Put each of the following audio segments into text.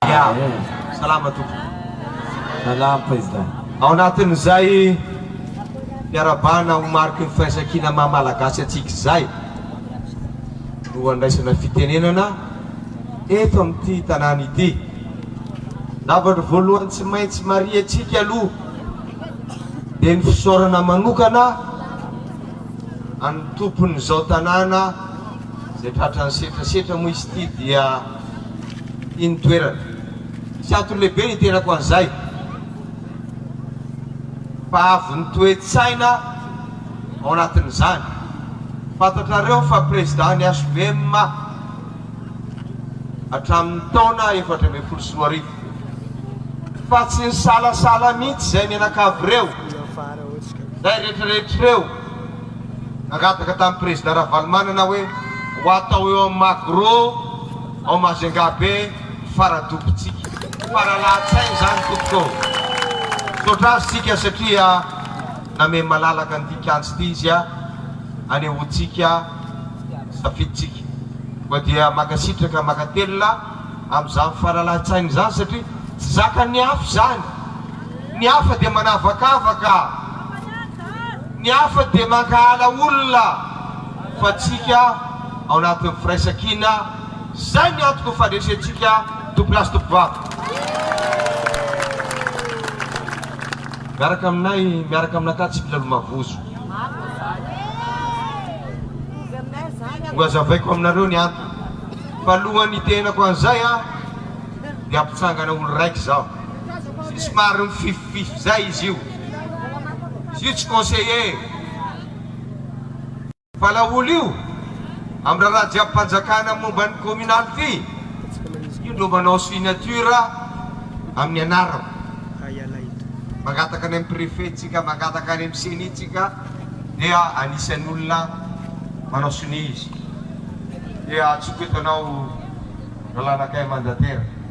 Ya, salama tompoko. Salama Président. Ao anatin'izay fiarahabana ho mariky ny firaisankina maha Malagasy antsika izay no handraisana fitenenana eto amin'ity tanàna ity. Zavatra voalohany tsy maintsy marihantsika aloha dia ny fisaorana manokana an'ny tompon'izao tanàna izay tratran'ny setrasetra moa izy ity dia. Iny toerana. Tsy antony lehibe ny hiterako an'izay fa avy ny toe-tsaina ao anatin'izany. Fantatrareo fa président ny HVM hatramin'ny taona efatra ambin'ny folo sy roa arivo. Fa tsy nisalasala mihitsy izay mianakavy ireo, izay rehetrarehetra ireo. Nangataka tamin'ny prezida Ravalomanana hoe ho atao eo amin'ny Magro ao Majungabe ny fara-dobontsika. Faralahan-tsaina izany tompoko ô! Misaotra azy isika satria nameno malalaka an'ity kianja ity izy hanehoantsika ny safidintsika. Koa dia mankasitraka, mankatelina amin'izany faralahan-tsaina izany satria tsy zakan'ny hafa izany. Ny hafa dia manavakavaka. Ny hafa dia mankahala olona fa antsika ao anatin'ny firaisankina izay ny antoko fandresentsika Tompolahy sy Tompovavy. Miaraka aminay, miaraka aminakà tsy mila lomavozo. Ho azavaiko aminareo ny antony fa alohan'ny hitenenako an'izay dia mpitsangana olo-raika izaho sy somary mifififify izay izy io. Io tsy conseiller fa laolo io am raharaha jiaby panjakana momba ny communal ty io no manao signature aminy anarako mangataka any am prefet tsika mangataka any am ceni tsika dia anisany olona manao sonia izy dia atsoiko eto anao ralanakay mandatera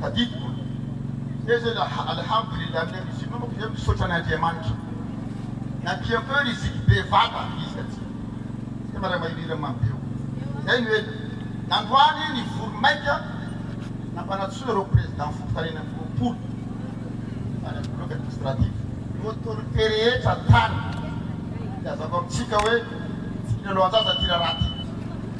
Tadidiko teo zay la alhamdoulilah ny riziki manko dia misaotra an' Andriamanitra na tiako eo riziki be vata izy ka tsy dia maray mairiry am be o zay no ela nandroany ny vory maika nampanatsoina ireo président fokontany enina amby roapolo tany am bloc administratif ny autorité rehetra tany ilazako amitsika hoe tsy kilalao anjaza ty raharaha ty.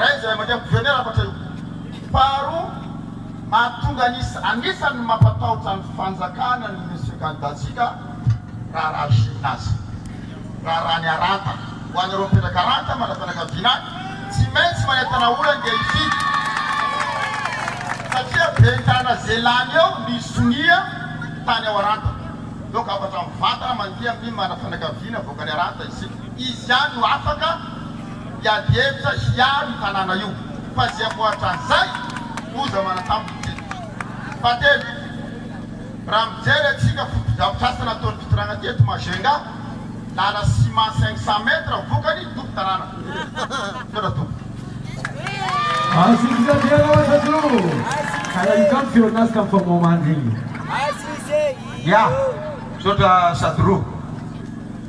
Iray izay mandeha am-piverenena hafatra io. Faharoa, mahatonga an'isa anisan'ny mampatahotra ny fanjakana ny Monsieur Candidat-tsika raharaha Chine azy. Raharaha ny haranta. Ho anareo mipetraka haranta manana fianakaviana any, tsy maintsy manentana olona andeha hifidy satria ben'ny tanana ze lany eo ny sonia tany ao haranta. Donc hafatra mivantana mandeha amin'ny manana fianakaviana avoakan'ny haranta isika. Izy ihany no afaka hiady hevitra hiaro io tanàna io fa izay amboaritra an'izay loza manantambo ny teny. Fahatelo, raha mijery antsika fotodrafitrasa nataon'ny fitondrana teto Majunga, lala ciment cinq cent mètres vokany tompon-tanàna. Misaotra tompoko. Azo isafiana ohatra koa ka raha izao ny fihaonan'azy ka mifamohamandry iny. Ya, misaotra Sadro.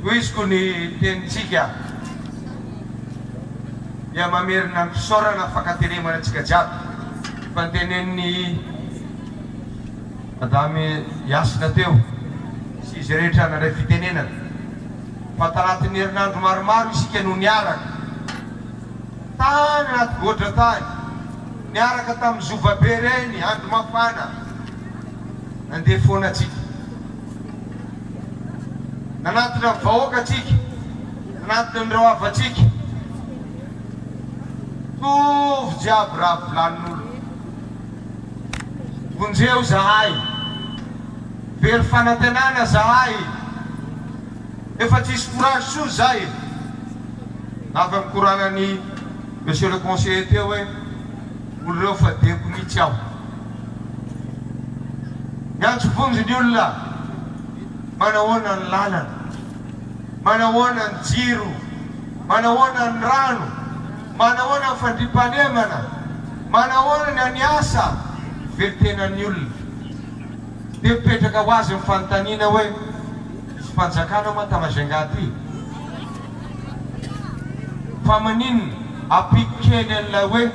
Tohiziko ny tenintsika dia mamerina am-pisaorana fankateremana antsika jiaby ny fantenenin'i Madame Yasina teo sy izay rehetra nandray fitenenana fa tanatin'ny herinandro maromaro isika no niaraka tany anaty goadra tany, niaraka tamin'ny zovabe ireny andro mafana nandeha foana antsika. nanatona ny vahoakantsika, nanatona an'ireo hafantsika. Mitovy jiaby raha volanin'olona. Vonjeo zahay, very fanantenana zahay, efa tsisy courage intsony zay. Raha avy nikoranan'i Monsieur le Conseiller teo hoe, olo reo fa diako mitsy aho. Miantso vonjy ny olona, manahoana ny lalana, manahoana ny jiro, manahoana ny rano, manahoana ny fandriampahalemana, manahoana ny any asa, velon-tenan'ny olona. Dia mipetraka ho azy ny fanontaniana hoe, Izy fanjakana moa ta-Majunga ty? Fa maninona ampiko kely an'ilay hoe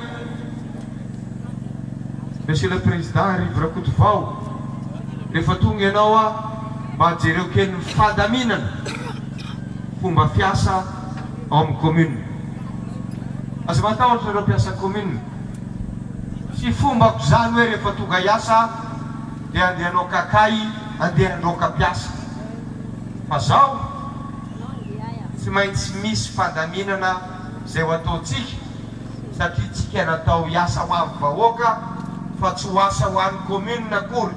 Monsieur le Président Arivo Rakotovao, rehefa tonga ianao aho mba jereo kely ny fandaminana fomba fiasa ao amin'ny commune. Aza matahotra ireo mpiasa commune. Tsy fombako izany hoe rehefa tonga hiasa aho dia andeha hanao kakahy, andeha handroaka mpiasa. Fa izao. Tsy maintsy misy fandaminana izay ho ataontsika satria tsika natao hiasa ho an'ny vahoaka fa tsy ho asa ho an'ny commune akory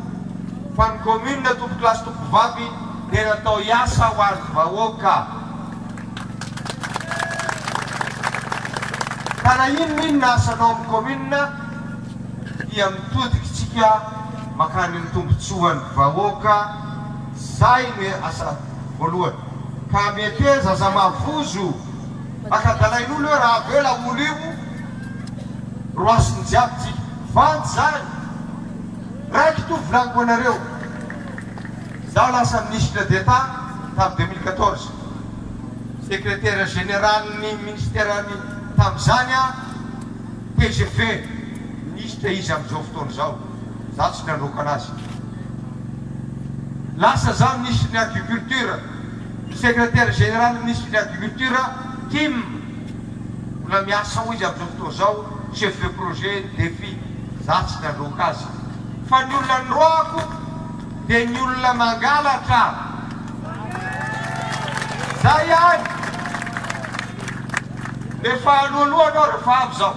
fa ny commune tompokolahy sy tompovavy dia natao hiasa ho an'ny vahoaka ka na inon'inona asanao amin'ny commune dia mitodikitsika makany amin'ny tombotsoan'ny vahoaka zay no asa voalohany. Ka mety hoe zaza mavozo maka dalain'olo hoe raha avela olo io roasiny jiaby tsika. Vandy zany. Raiky to volaniko anareo. Zaho lasa ministre d'etat tam deux mille quatorze. Secretaire général ny ministère ny tam zany aho. Tgv, ministre izy amzao fotoana zao. Za tsy nandroaka anazy. Lasa za ministry ny agriculture, ny secretaire general ministry ny agriculture tim mbola miasa ao izy amzao fotoa zao chef de projet ny defi za tsy nandroaka azy fa ny olona nroako de ny olona mangalatra zay ihany efa aloaloha anao refa avy zao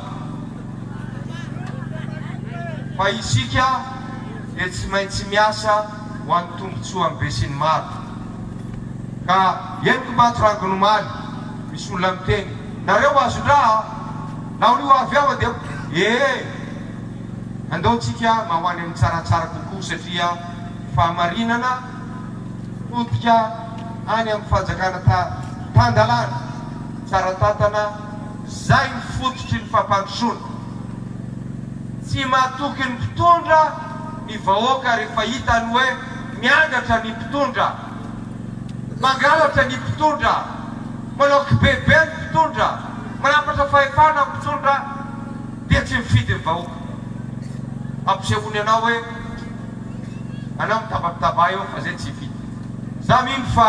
Fa isika dia tsy maintsy miasa ho an'ny tombontsoan'ny besinimaro. Ka henoko maty rangony omaly, misy olona miteny, nareo azon-draha a! Nahorio avy aho dia ee! Andao tsika mba ho any amin'ny tsaratsara kokoa satria ny fahamarinana potika any amin'ny fanjakana ta tan-dalàna, tsara tantana, Izay ny fototry ny fampandrosoana. Tsy matoky ny mpitondra ny vahoaka rehefa hitany hoe miangatra ny mpitondra, mangalatra ny mpitondra, manao kibebe ny mpitondra, manapatra fahefana ny mpitondra dia tsy mifidy ny vahoaka. Ampisehoany anao hoe anao mitababitaba eo fa zay tsy hifidy. Za mino fa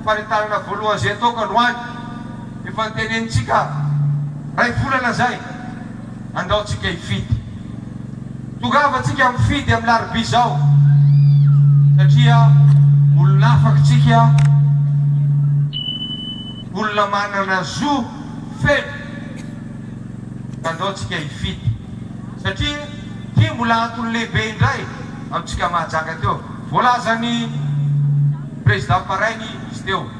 faretanana voalohany zay ataoko androany. Efa tenenintsika ray volana izay, andao tsika hifidy. Tongava tsika mifidy amin'ny larobia izao satria olona afaka tsika, olona manana zo feno ka andao tsika hifidy satria ity mbola antony lehibe indray amintsika mahajaka teo voalazan'ny Prezidà Parainy izy teo.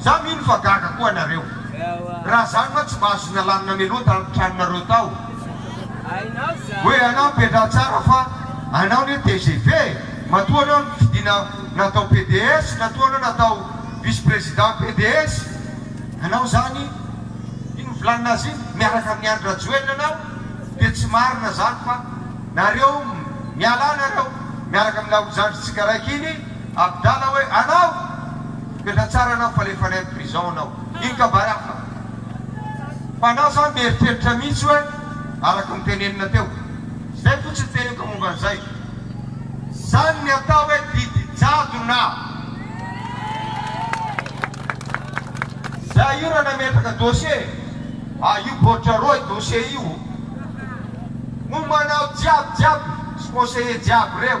Za mino fa gaga koa anareo raha zany ma tsy mba azony alanina meloa tany tranonareo tao hoe anao mpiandratsara fa anao ne tgv matoa anao nifidiana natao PDS natoa anao natao vice président PDS anao zany iny mivilanina azy iny miaraka amin'ny Andry Rajoelina anao dia tsy marina zany fa nareo mialà nareo miaraka amin'ny laolo zandritsika raiky iny Abdallah hoe anao efa tsara anao fa alefa any am prison anao iny ka barafa fa anao zany mieritreritra mihitsy hoe araka ny tenenina teo zay fotsiny teneniko momba an'izay zany ny atao hoe didy jadona zay io raha nametraka dossier ah io baoritra roa io dossier io momba anao jiaby jiaby sy conseiller jiaby reo.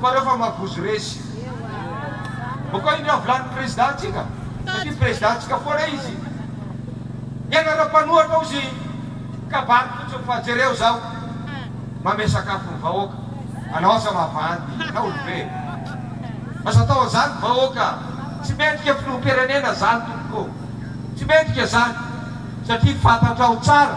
fa reo fa magozo resy mba koa indreo volanin'ny président ntsika satria président ntsika foana izy ianareo mpanohatra ozy kabary fotsiny fa jereo zao mame sakafo ny vahoaka anao asa mavandy na olobe aza atao anzany vahoaka tsy mendrika filoham-pirenena zany tompoko tsy mendrika zany satria fantatrao tsara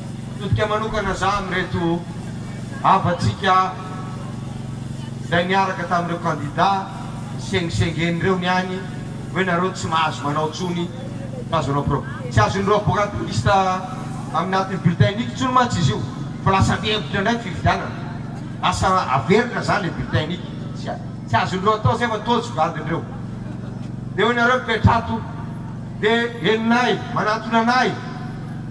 Mitodika manokana za amin'ireto havantsika izay niaraka tamin'ireo kandida nisengisengena ireo ny any hoe nareo tsy mahazo manao tsony tsy azonao pro tsy azon'ireo avocat liste aminatin'ny bulletin unique tsony mantsy izy io fa lasa mihevitra indray ny fifidianana lasa averina zany le bulletin unique tsy tsy azon'ireo atao zay fa tojo gadon'ireo de hoe nareo mipetrato de henonay manantona anay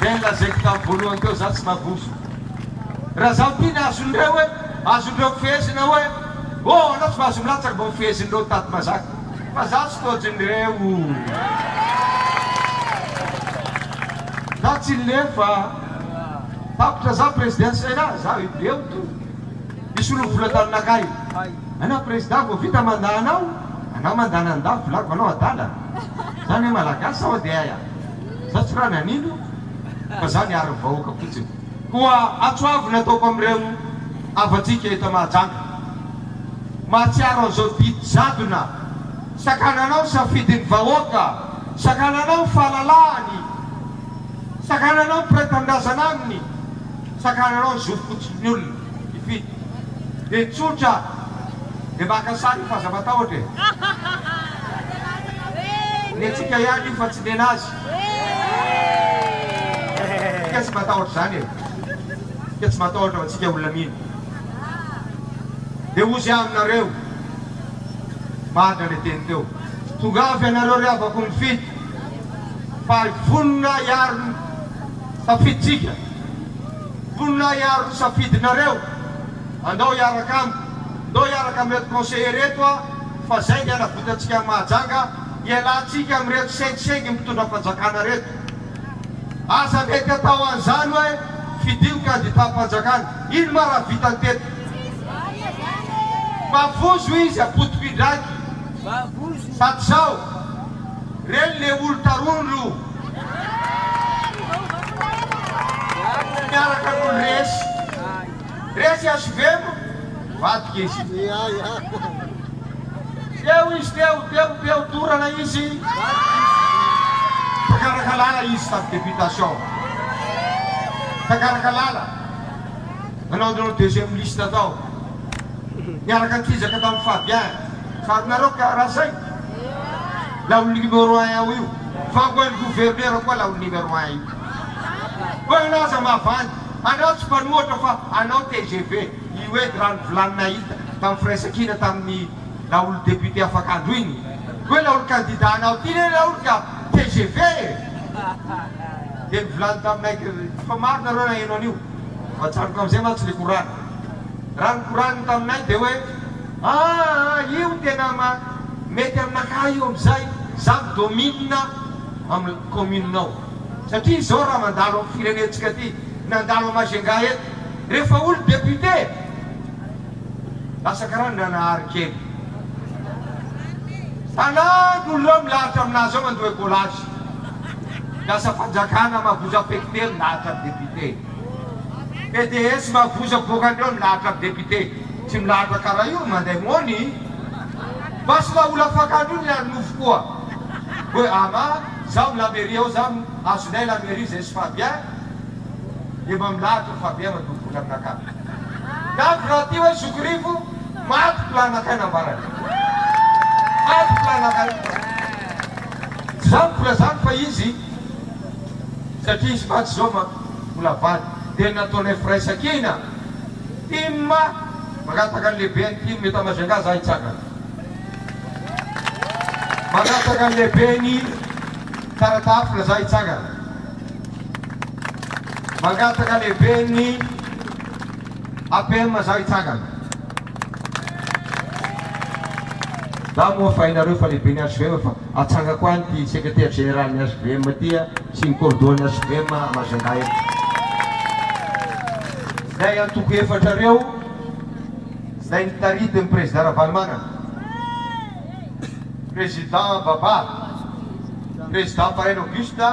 Dia nolazaiko tamin'ny voalohany teo za tsy mavozo. Raha za mpino azondreo hoe azondreo fehezina hoe oh anao tsy mahazo milatsaka vao fehezin'ireo tady mazaka fa za tsy toajin'ireo. Za tsy lefa. Tapitra za prezida sena za leo to hisolo vola taminakahy. Anao prezida vao vita manda anao anao mandana ny dafy volako anao adala. Zany hoe malagasy sa ody ay a? Za tsy rany anindro fa za niary ny vahoaka fotsiny. Koa antso avo ny ataoko amin'ireo havantsika eto Mahajanga. Mahatsiaro an'izao didy jadona sakananao ny safidin'ny vahoaka, sakananao ny fahalalahany, sakananao ny mpiray tanindrazana aminy, sakananao ny zo fotsiny ny olona hifidy. Dia tsotra dia maka sary fa aza matahotra e! Ny antsika ihany io fa tsy ny anazy! Tsika tsy matahotra izany e! Tsika tsy matahotra fa tsika olona mino! Dia hozy aho aminareo, marina le teny teo! Tongava ianareo ry havako mifidy fa vonona hiaro ny tafiditsika! Mponina hiaro ny safidinareo. Andao hiaraka amiko. Ndao hiaraka amin'ireto conseillers ireto aho fa zay ny hanavotantsika an'i Mahajanga. Ialahintsika amin'ireto sengisengy mpitondra fanjakana ireto. Aza mety atao an'izany hoe fidio ny candidat-mpanjakana. Ino ma raha vitany teto? Mavozo izy apotoko indraiky. Sady zao. Reny le olo tarony ro. Miaraka no resy. Resy HVM mivadika izy. Teo izy teo, teo, teo, dorana izy. Takaraka lala izy tamin'ny députation. Takaraka lala. Nanao an'ireo deuxième liste tao. Niaraka an-kizaka tamin'i Fabien. Fa nareo karaha izay. Laolo numéro un ao io fa ho an'ny gouverneur koa laolo numéro un io. Hoe anao aza mavandy, anao tsy mpanohatra fa anao tgv, io edy raha ny volany nahita tamin'ny firaisankina tamin'ny laolo député afakandro iny hoe laolo candidat anao ty re laolo ka tgv e! Dia nivolany taminay kay hoe efa maro nareo naheno an'io fa ajanoko amin'izay mantsy le korana. Raha ny koraniny taminay dia hoe. Aa io tena ma mety aminakahy io amzay za mi domine am commune nao satria zao raha mandalo am firenentsika ty nandalo a Majunga eto rehefa olo député lasa karaha Ndranahary kely tanànko olo reo milahatra aminazy ao mandoa ecolage lasa fanjakana mavozo affecter ny lahatra député. PDS mavozo bokany eo milahatra am député tsy milahatra kara io manday moni basy mba ola fakany io ny lany nofo koa hoe ama zam la mairie ao zam azonay la mairie zay sy Fabien efa milahatra Fabien madoa vola aminakah lafo raha ty hoe zokiryfo maty plan akay nambarany maty plan akay tsy zany koa zany fa izy satria izy maty zao ma. mbola vady dia nataonay firaisankina tim mangataka ny lehibe ny tim eto Majunga za hitsangana mangataka ny lehibe ny Taratafila za hitsangana mangataka lehibe ny APM za hitsangana Dago moa fa hainareo fa lehibe ny HVM fa atsangako any ity secretaire général ny HVM ity a sy ny cordo ny HVM a Majunga eto. Zay antoko efatra reo zay nitaritin ny président Ravalomanana, président Baba, président Fareno Auguste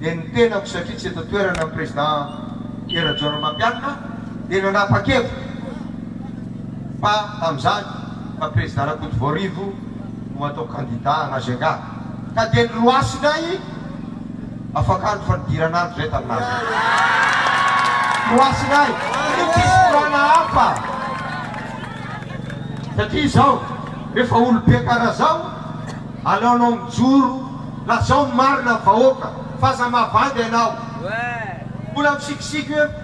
dia ny tenako satria tsy eto an-toerana ny président Hery Rajaonarimampianina, dia nanapa-kevitra fa tamin'izany fa Prezida Rakotovoarivo no atao kandida hanazengà ka dia niroasina ahy afakandro fa nidirana andro izay tamin'azy niroasina ahy satria tsy nisy korana hafa satria izao rehefa olobe karaha izao aleonao mijoro lazao ny marina amin'ny vahoaka fa aza mavandy ianao mbola misikisiko hoe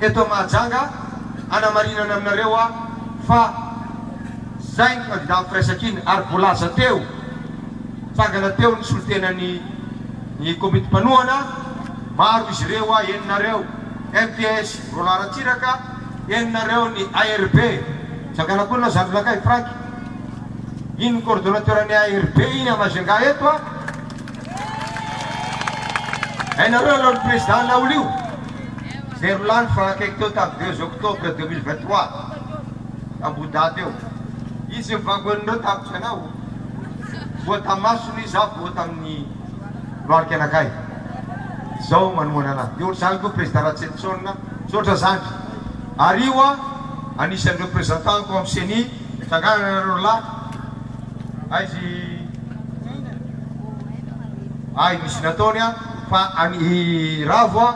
Eto Mahajanga, hanamarinana aminareo aho fa izay ny kandida amin'ny firaisankina ary voalaza teo, nitsangana teo ny solontenan'ny ny komity mpanohana, maro izy ireo, eny nareo MPS Roland Ratsiraka, eny nareo ny ARB, nitsangana koa ny Zandrinakay Frank, iny ny coordonnateur-n'ny ARB iny à Majunga eto, hainareo aloha ny président laolo io. Izay rolany efa akaiky teo tamin'ny deux octobre deux mille vingt trois, tambohodahy teo. Izy ny vangoen'ireo tamiko ianao, voa tamin'ny masony izy, aho voa tamin'ny lohalika anakay. Izao manohana anah. Dia ohatr'izany koa Prezida Ratsietison. Misaotra zandry. Ario aho anisan'ny représentant-ko amin'ny ceni, tsangana nareo rolahy. Aizy ahy misy nataony an. Fa any i Ravo a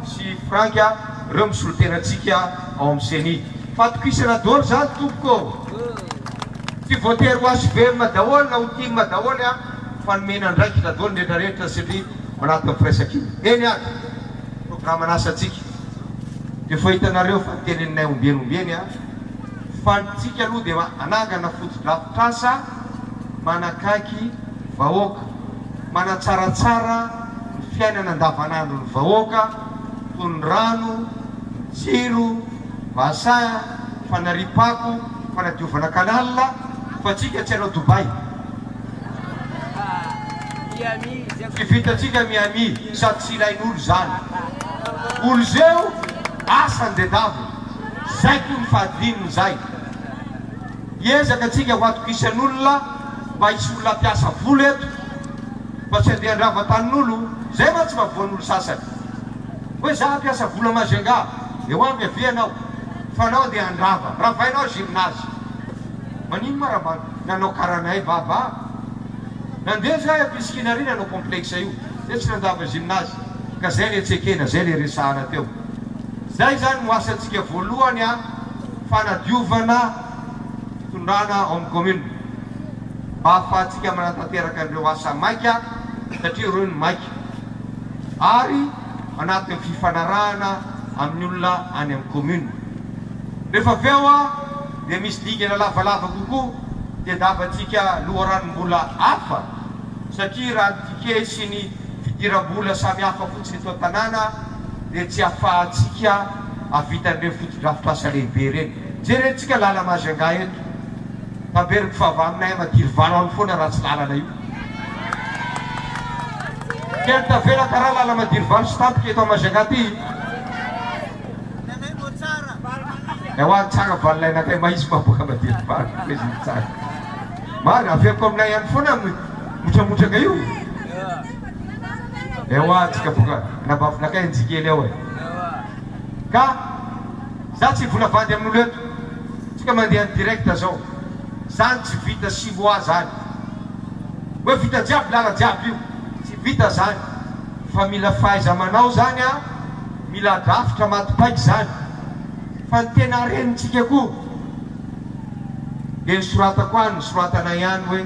sy Frank a reo misolo tena antsika ao am ceni. Fatokisana doly zany tompoko ô! Tsy voatery ho HVM daholo na ho tim daholo a fa nomena andraikitra doly ny retraretra satria ao anatin'ny firaisankina. Eny ary! Programan'asa antsika de efa hitanareo fa noteneninay ombieny ombieny a! Fa ny tsika aloha de anangana fotodrafitrasa. manakaiky vahoaka, manatsaratsara ny fiainana andavanandron'ny vahoaka toy ny rano, ny jiro, bassin, fanariam-pako, fanadiovana canal, fa tsika tsy hanao Dubai, tsy vitantsika Miami sady tsy ilain'olo izany, olo zeo asany dedaviny, zay koa ny fahadivininy zay. Hiezaka tsika ho atokisan'olona mba hisy olona mpiasa vola eto fa tsy andeha handrava tanin'olo zay mantsy mba voan'olo sasany hoe za mpiasa vola Majunga de ho avy avia anao fa anao andeha handrava ravainao gymnase manino ma ra mba nanao karanay vava nandeha za eto isikina ary nanao complexe io de tsy nandrava gymnase ka zay le tsy ekena zay le resahana teo zay zany no asantsika voalohany a. fanadiovana fitondrana ao amin'ny kaominina mba hahafahantsika manatanteraka an'ireo asa maika satria ireo no maika ary anatin'ny fifanarahana amin'ny olona any amin'ny kaominina. Rehefa avy eo dia misy dingana lavalava kokoa dia davantsika loharanom-bola hafa satria raha ny ticket sy ny fidiram-bola samihafa fotsiny eto an-tanàna dia tsy afahantsika hahavita an'ireny fotodrafitrasa lehibe ireny. Jerentsika lala Majunga eto, Tamberiko fa avy aminay any Matiry valo any foana ratsy lalana io. Tena tavela karaha lala Matiry valo sy tampoka eto Majunga ty. Ewa ny tsara valinay nakay mahisy maboaka Matiry valo. Marina, avy eto aminay any foana. Motramotraka io? Ewa tsika boka nambavinakay njikely ao e! Ka za tsy hivola vady amin'olo eto, tsika mandeha direct zao, zany tsy vita sihoa zany hoe vita jiaby lala jiaby io, tsy vita zany fa mila fahaiza-manao zany a, mila drafitra maty paika zany fa ny tena harenintsika koa de ny soratako any ny soratanay any hoe,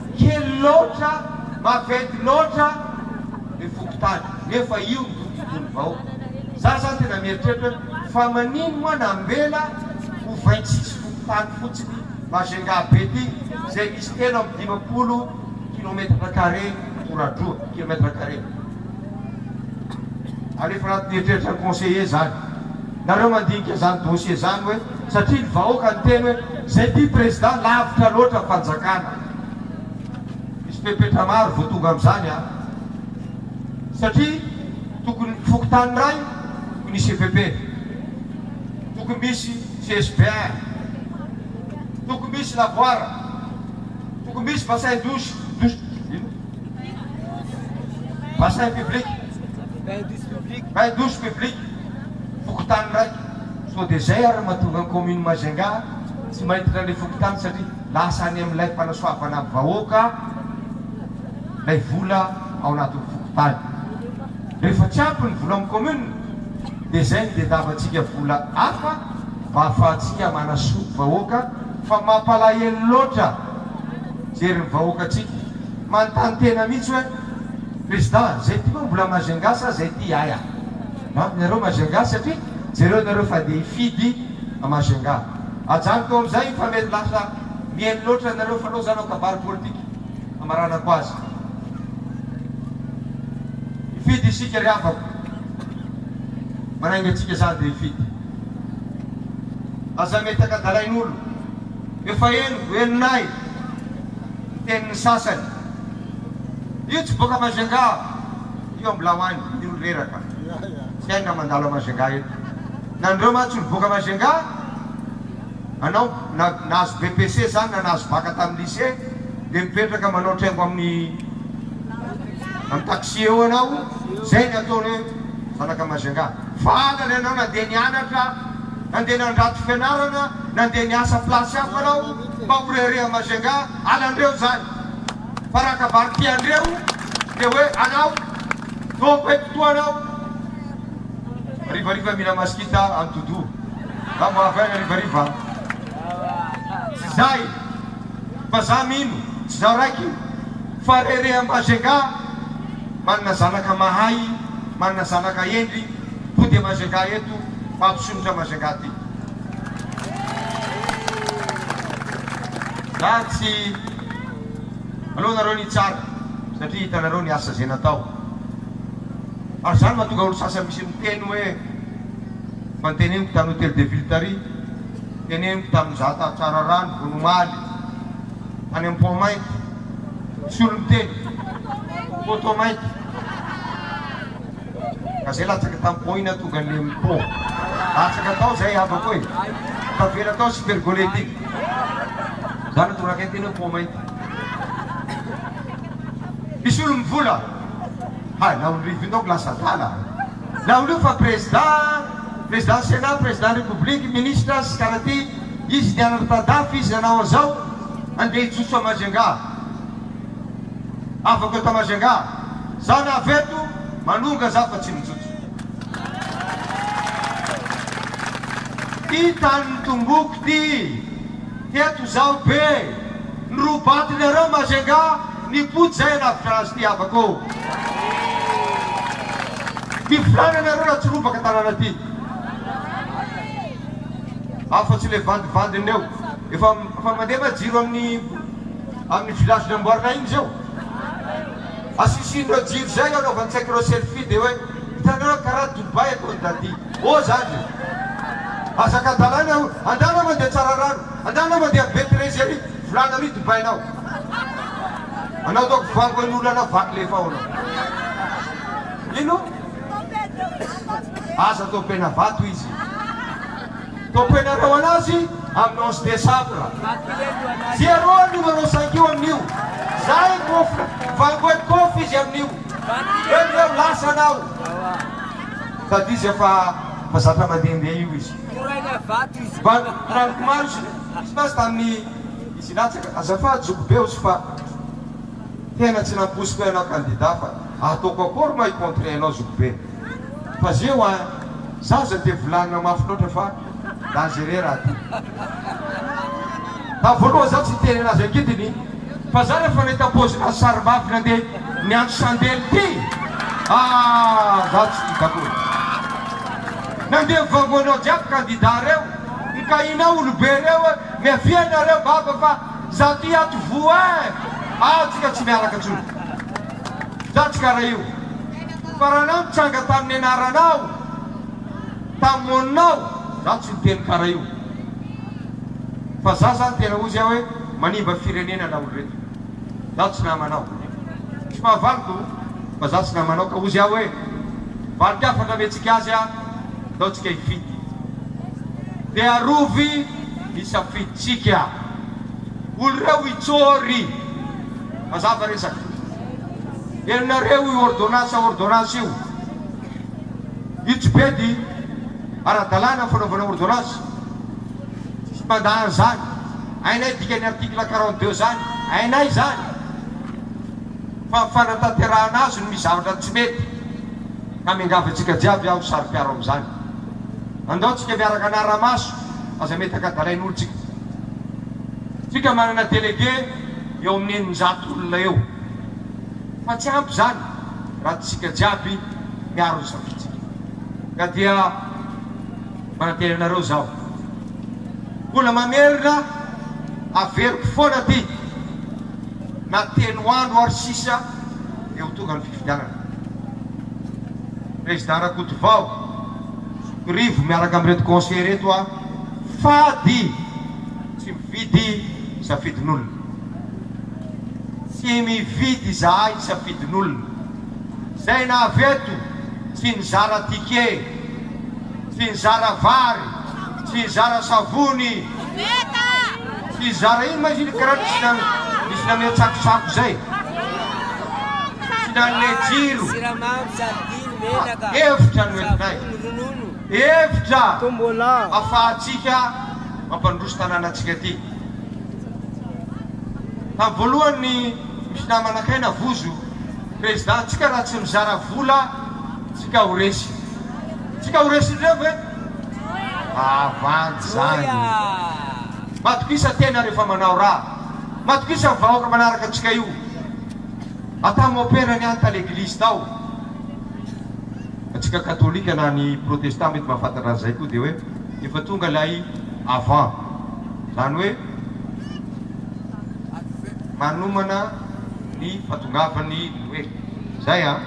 Kely loatra, maventy loatra le fokontany nefa io no tontolon'ny vahoka. Za zany tena mieritreritra hoe fa manino moa nambela ho vingt-six fokontany fotsiny Majunga be ty zay misy telo amby dimampolo kilometatra carré ora-droa, kilomètre carré. ary efa anaty eritreritra ny conseiller izany, nareo mandinika izany dossier izany hoe satria ny vahoaka niteny hoe izay tia président lavitra loatra ny fanjakana, misy fepetra maro vao tonga amin'izany an! satria tokony fokontany iray tokony hisy EPP, tokony misy CSBR, tokony misy lavoir, tokony misy bassin douche, douche ino? Bassin public, bain douche public, fokontany raiky, sao dia izay ary mahatonga ny commune Majunga tsy maitona ilay fokontany satria lasa any amin'ilay fanasoavana vahoaka ilay vola ao anatin'ny fokontany. Rehefa tsy ampy ny vola amin'ny commune dia izay no diandavantsika vola hafa mba hahafahantsika manasoa vahoaka fa mampalahelo loatra mijery ny vahoakantsika. Manontany tena mihitsy hoe président zay ty moa mbola majunga sa zay ty aia? An ianareo majunga satria jereo nareo fa dia hifidy majunga ajanoko ao amizay fa mety lasa mihaino loatra nareo fa lozano ao kabary politika amaranako azy hifidy isika ry havako manainga antsika zany dia hifidy aza metaka dalain'olo Efa eny velona ahy ny tenin'ny sasany. Io tsy boaka Majunga, io Ambilaoany, io ny reraka. Tsy hay na mandalo à Majunga eto. Nareo mantsy olo boaka Majunga, anao na nahazo BPC zany na nahazo bac tamin'ny lycée dia mipetraka manao traingo amin'ny amin'ny taxi eo anao, zay ny ataony hoe zanaka Majunga. Valiny anao nandeha nianatra, nandeha nandrato fianarana, Nandeha niasa place hafa anao mba ho rehareha Majunga halandreo zany fa raha ka vary tiandreo dia hoe anao tompoko eto toa anao harivariva mila maskita any Todo na vao avy any harivariva tsy zay fa za mino tsy za raiky fa rehareha Majunga manana zanaka mahay manana zanaka hendry mody Majunga eto mampisonotra Majunga ty. Za tsy aleo nareo ny hitsara satria hitanareo ny asa zay natao ary zany mahatonga olo sasany misy miteny hoe fa nteneniko tany hotel de ville tary teneniko tamy nizata tsara ra ny vony omaly tany am pont mainty misy olo miteny poteau mainty Ka zay latsaka tam po ina tonga nem po latsaka tao zay havako e tavela tao super gole ty za no tonga akaiky teny hoe po mainty misy olo mivola hay na olo rivony tao ko lasa adala na olo io fa prezida prezidant senat prezidant repoblika ministra sy kara ty izy nianatra tadafy izy nanao anzao andeha hijotso a majunga Avako eto Majunga. Za na avy eto Manonga za fa tsy mijotso. Ty tanin'ny tomboko ty. Teto zaho be. Ny roa batonareo Majunga nipody zay hanavotra azy ty havako ô. Ny filànanareo raha tsy robaka tanàna ty. Afa tsy le vandivandin'reo. Efa mandefa jiro amin'ny. Amin'ny village namboarina iny izao asisian'ireo jiro izay eo anaovan-tsaiko ireo selfie dia hoe hitanao hoe karaha Dubaï ataon'i Dadi ô zany e! Hazakadalàna io andalo mandeha Tsararano andalo mandeha Be Terezy ary volana ary Dubaïnao anao daoko vango an'ny olana vaky lefa ao anao ino? Aza taompena vato izy. Toko ianareo an'azy amin'ny onze desambra. Zero ny manao saingiho amin'io. Zahay kofra, vangoen'i kofy izy amin'io. Eo dia eo, lasa anao. Sady izy efa efa zatra mandehandeha io izy. Mba naniko maro izy izy mantsy tamin'ny izy hilatsaka, azafady zoky be ozy fa tena tsy nampoiziko ianao candidat fa ataoko akory moa hi-contrer anao zoky be. fa zeo a za za de volanina mafy loatra fa dangereux raha ty tamy voaloha za tsy niteny anazy angidiny fa za refa nahita pause nazy sary mafy nande niantso sandely ty aah za tsy tia akory nande mivango anao jiaby kandida reo mikahinao olobe reo e miavia nareo baba fa za ty ato voa e atsika tsy miaraka tsony. Zandry kara io. Fa raha anao nitranga tamin'ny anaranao, tamin'ny monina-ao, za tsy niteny kara io. Fa za zany tena ozy aho hoe manimba firenena na oloreto. Za tsy namanao. Tsy mahavaliko fa za tsy namanao ka ozy aho hoe valiky hafatra omentsika azy a, ndao tsika hifidy. Dia arovy ny safiditsika. Oloreo hitsôry. Mazava resaka. Henonareo io ordonnance ordonnance io. Io tsy pedy ara-dalàna ny fanaovana ordonnance. Tsy mandà an'izany. Hainay dikan'ny article quarante deux zany. Hainay zany. Fa ny fanatanterahana azy no misy zavatra tsy mety. Ka miangavy antsika jiaby aho saro-piaro amin'izany. Andao tsika miaraka anara-maso aza mety ankadalain'olotsika. Tsika manana délégué. eo amin'ny eninjato olona eo. Fa tsy ampy izany raha tsy isika jiaby miaro ny safitsika. Ka dia manantena anareo izaho, mbola mamerina averiko foana ty na telo andro ary sisa dia ho tonga ny fifidianana. Président Rakotovao, zokirivo miaraka amin'ireto conseillers ireto aho fady tsy. Mividy safidin'olona. Tsy mividy izahay safidin'olona. Izay navy eto tsy nizara ticket, tsy nizara vary, tsy nizara savony, tsy nizara ino ma izy iny karana misy namia tsakotsako izay, tsy nanome jiro, efitra no entinay. Hevitra afahantsika mampandroso tanànantsika ity. Tamin'ny voalohany ny misy namana kay navozo président tsika raha tsy mizara vola tsika ho resy. Tsika ho resindreo ve? Havandy zany. Matokisa tena rehefa manao raha. Matokisa ny vahoaka manaraka antsika io. Atao mopera ny any tany eglise tao. Antsika katolika na ny protestant mety mahafantatra an'izay koa dia hoe efa tonga ilay avant, izany hoe manomana ny fahatongavan'ny Noely. Izay an!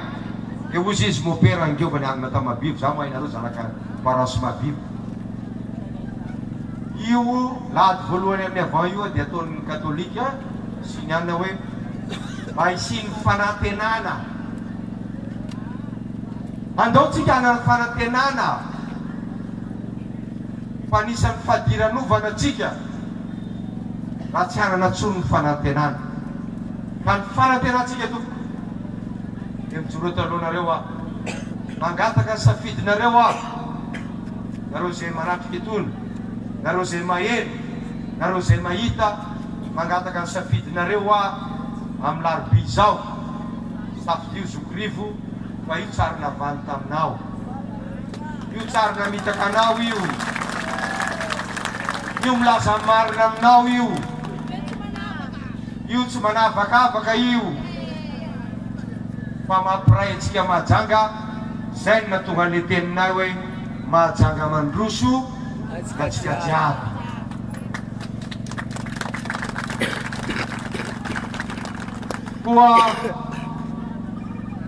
Dia hozy izy, Mon père angeo fa niangona tany Mahabibo, izaho mahay nareo zanaka parents Mahabibo. Io lahady voalohany amin'ny avant io dia ataon'ny katolika sy ny anona hoe mba hisian'ny fanantenana. Andao tsika hanano fanantenana fa anisan'ny fadiranovana tsika raha tsy hanana tsony ny fanantenana. Ka ny fanantenantsika tompoko dia mijoro eto alohanareo aho, mangataka ny safidinareo aho, nareo izay manatrika itony, nareo izay maheno, nareo izay mahita, mangataka ny safidinareo aho amin'ny larobia izao. Safidio zokirivo fa io tsary navaly taminao io tsary namitaka anao io io milaza ny marina aminao io io tsy manavakavaka io fa mampiray antsika mahajanga zay no nahatonga an'le teninay hoe mahajanga mandroso antsika jiaby. Koa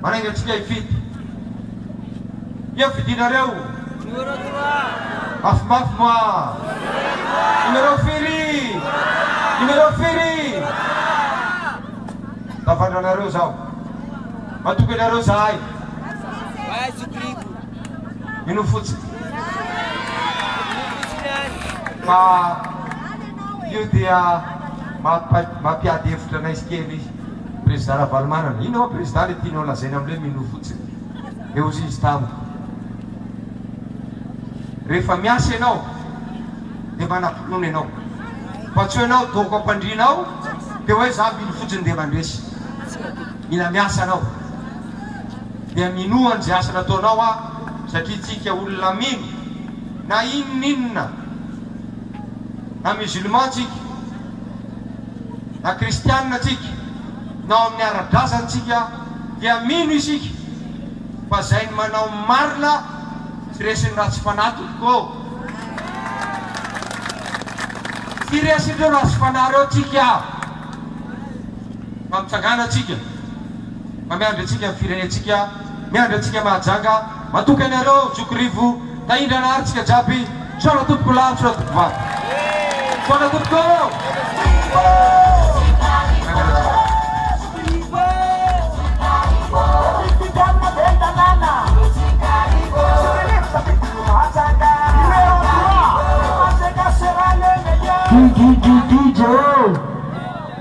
marainga antsika hifidy. Inona fidinareo? Mafimafy moa? Numéro firy? Numéro firy? Tafandranareo zaho. Matoky anareo zahay. Mino fotsiny fa io dia mampiady hevitra anay sy kely Prezida Ravalomanana. Inona moa Prezida ilay tianao lazaina amin'ilay hoe mino fotsiny? Dia hozy izy tamiko, rehefa miasa ianao dia manam-pinoana ianao fa tsy hoe ianao doako am-pandriana ao dia hoe izaho mino fotsiny dia mandresy. Mila miasa ianao. Dia minoa an'izay asa nataonao aho satria tsika olona mino na inon'inona na musulman tsika na kristianina tsika na ao amin'ny ara-drazana tsika dia mino isika fa izay ny manao ny marina tsy resin'ny ratsy fanahy tompoko ô! Tsy resin'ireo ratsy fanahy ireo tsika. Fa mitsangàna antsika, fa miandry antsika ny firenentsika, miandry antsika Mahajanga, matoky anareo aho zoky Rivo, tahindrana ary tsika jiaby, misaona tompoko lahy, misaona tompoko vavy. Misaona tompoko!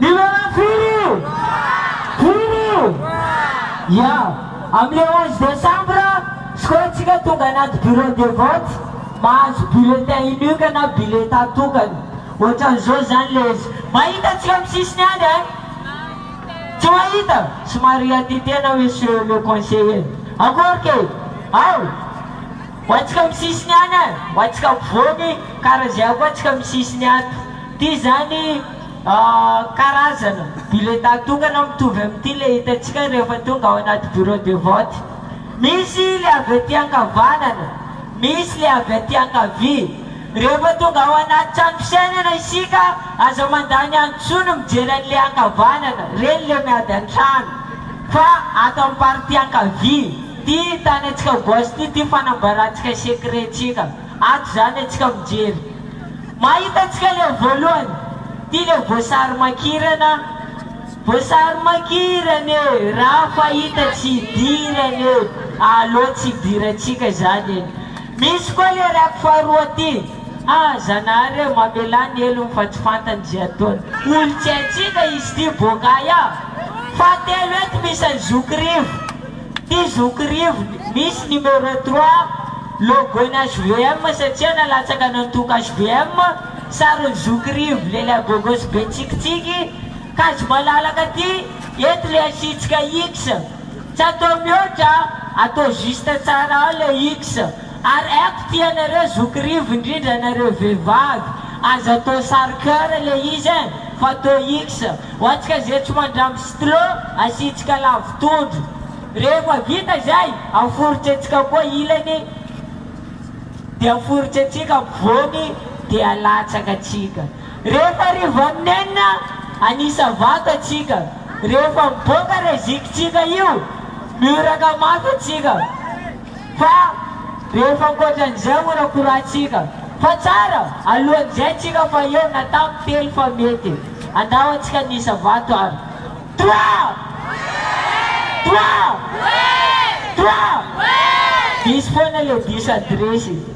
Milalao firy io? Firy io? Ya, amin'ny le onze décembre skoentsika tonga anaty bureau de vote mahazo bulletin unique na biletà tokana. Ohatran'izao izany le izy. Mahita antsika amin'ny sisiny any eh? Tsy mahita? Somary hiadia tena monsieur le conseiller. Akory kay! Ao! Ho antsika amin'ny sisiny any eh! Ho antsika ampovoany kara izay koa antsika amin'ny sisiny ato. Ity izany. Karazana biletà tokana mitovy amin'ity ilay hitantsika rehefa tonga ao anaty bureau de vote. Misy ilay avy aty ankavanana, misy ilay avy aty ankavia. Rehefa tonga ao anaty trano fisainana isika, aza mandany andro intsony mijery an'ilay ankavanana, ireny ilay miady an-trano, fa ato amin'ny partie ankavia, ity tanantsika gauche ity, ity fanambarantsika secret-tsika. Ato zany atsika mijery. Mahita tsika le voalohany. Ty le voasary makirana. Voasary makirana e! Ra fahita tsy idirana e! Aleo tsy idirantsika zany e! Misy koa le rap faharoa ty. Ah Zanahary e! Mamelà ny helony fa tsy fantany ze ataony. Olo tsy haintsika izy ty boaka aia? Fahatelo eto misy an'i Zoky Rivo. Ity zoky rivony misy numéro trois logo-ny HVM satria nalatsaka nantoka HVM, sarin'ny zoky rivo lehilahy gogo sy be tsikitsiky, kajy malalaka ity, eto le asiantsika X, tsy atao mihoatra a, atao juste tsara ao le X, ary aiko ity anareo zoky rivo indrindra anareo vehivavy, aza atao sary coeur le izy e, fa atao X. Ho antsika izay tsy mandrango stylo, asiantsika lavo tondro. Rehefa vita izay, aforitsantsika koa ilany dia aforitsantsika ampovoany dia alatsaka antsika. Rehefa arivo amin'ny enina, anisa vato antsika. Rehefa miboaka ilay zikintsika io, mioraka mafy antsika. Fa rehefa ankoatran'izay horakorantsika fa tsara alohan'izay tsika fa eo na tamin'ny telo fa mety andao antsika ny isa vato ary Toi! Toi! Toi! Diso foana le diso adiresy.